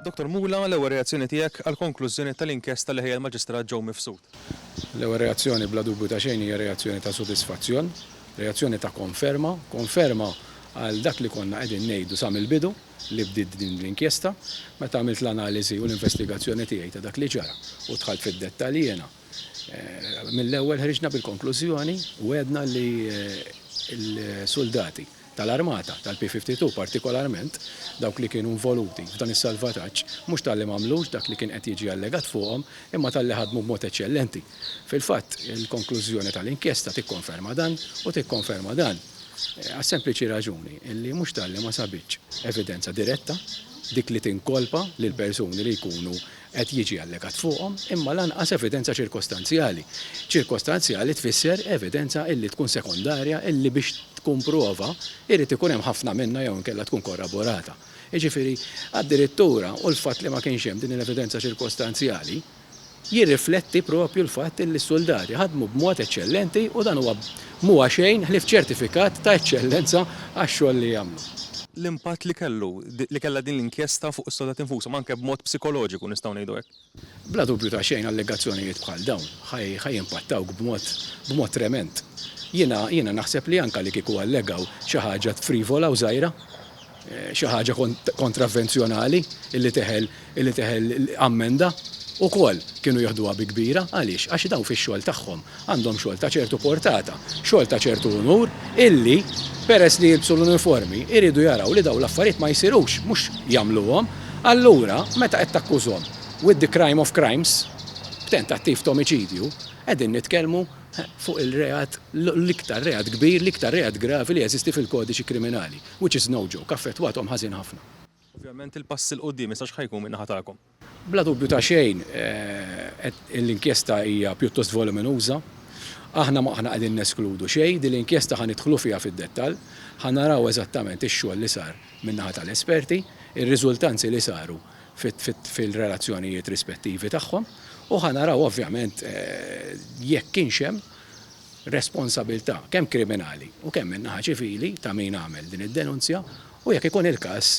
Dottor Mula, l-ewwel reazzjoni tiegħek għall-konklużjoni tal-inkjesta li ħejja l-Maġistrat Joe Mifsud? L-ewwel reazzjoni bla dubju ta' xejn hija reazzjoni ta' sodisfazzjon, reazzjoni ta' konferma, konferma għal dak li konna qegħdin ngħidu sa mill-bidu li bdiet din l-inkjesta. Meta għamilt l-analiżi u l-investigazzjoni tiegħi ta' dak li ġara u dħalt fid-dettalji jiena, mill-ewwel ħriġna bil-konklużjoni u għedna li l-suldati, tal-armata tal-P-52 partikolarment dawk li kienu involuti f'dan is-salvataġġ mhux talli m'għamlux dak li kien qed jiġi allegat fuqhom imma talli ħadmu b'mod eċċellenti. Fil-fatt, il-konklużjoni tal-inkjesta tikkonferma dan u tikkonferma dan għas-sempliċi raġuni li mhux talli ma sabitx evidenza diretta, dik li tinkolpa lill-persuni li jkunu qed jiġi allegat fuqhom, imma lanqas evidenza ċirkostanzjali. Ċirkostanzjali tfisser evidenza illi tkun sekondarja illi biex tkun prova jrid ikun hemm ħafna minnha jew inkella tkun korraborata. Jiġifieri, addirittura, u l-fatt li ma kienx hemm din l-evidenza ċirkostanzjali jirrifletti proprju l-fatt illi s-suldati ħadmu b'mod eċċellenti u dan huwa Mhuwa xejn ħlief ċertifikat ta' eċċellenza għax-xogħol li jagħmlu. L-impatt li kellu, li kellha din l-inkjesta fuq is-sodat infushom, anke b'mod psikoloġiku nistgħu ngħidu hekk. Bla dubju ta' xejn allegazzjonijiet bħal dawn ħa jimpattawk b'mod, b'mod tremend. Jiena, jiena naħseb li anke li kieku allegaw xi ħaġa frivola u żgħira, xi ħaġa kontravvenzjonali illi teħel illi teħel ammenda ukoll kienu jieħduha bi kbira għaliex għax daw fix-xogħol tagħhom għandhom xogħol ta' ċertu portata, xogħol ta' ċertu unur illi peress li jilbsu l-uniformi jridu jaraw li daw l-affarijiet ma jsirux mhux jagħmluhom. Allura meta qed takkużhom with the crime of crimes b'tentattiv t'omiċidju qegħdin nitkellmu fuq il-reat l-iktar reat kbir l-iktar reat gravi li jeżisti fil-kodiċi kriminali. Which is no joke, affettwathom ħażin ħafna. Ovvjament il-pass 'il quddiem issa x'ħa jkun min-naħa tagħkom? Bla dubju ta' xejn l-inkjesta hija pjuttost voluminuża. Aħna ma aħna qegħdin neskludu xejn, din l-inkjesta ħa nidħlu fiha fid-dettall, ħa naraw eżattament ix-xogħol li sar min-naħa tal-esperti, ir-riżultanzi li saru fil-relazzjonijiet rispettivi tagħhom u ħa naraw ovvjament jekk kienx hemm responsabilità, kemm kriminali u kemm min-naħa ċivili ta' min għamel din id-denunzja u jekk ikun il-każ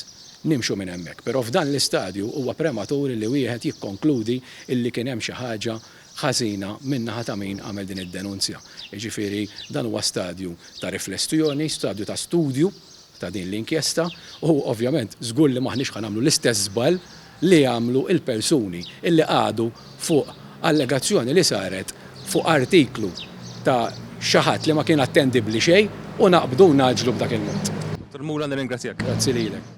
nimxu minn hemmhekk. Però f'dan l-istadju huwa prematur li wieħed jikkonkludi illi kien hemm xi ħaġa ħażina min-naħa ta' min għamel din id-denunzja. Jiġifieri dan huwa stadju ta' riflessjoni, stadju ta' studju ta' din l-inkjesta u, ovvjament, żgur li m'aħniex ħa nagħmlu l-istess żball li għamlu l-persuni li qagħdu fuq allegazzjoni li saret fuq artiklu ta' xi ħadd li ma kien attendibbli xejn u naqbdu u ngħaġġlu b'dak il-mod. Dottor Mura, nirringrazzjak. Grazzi lilek.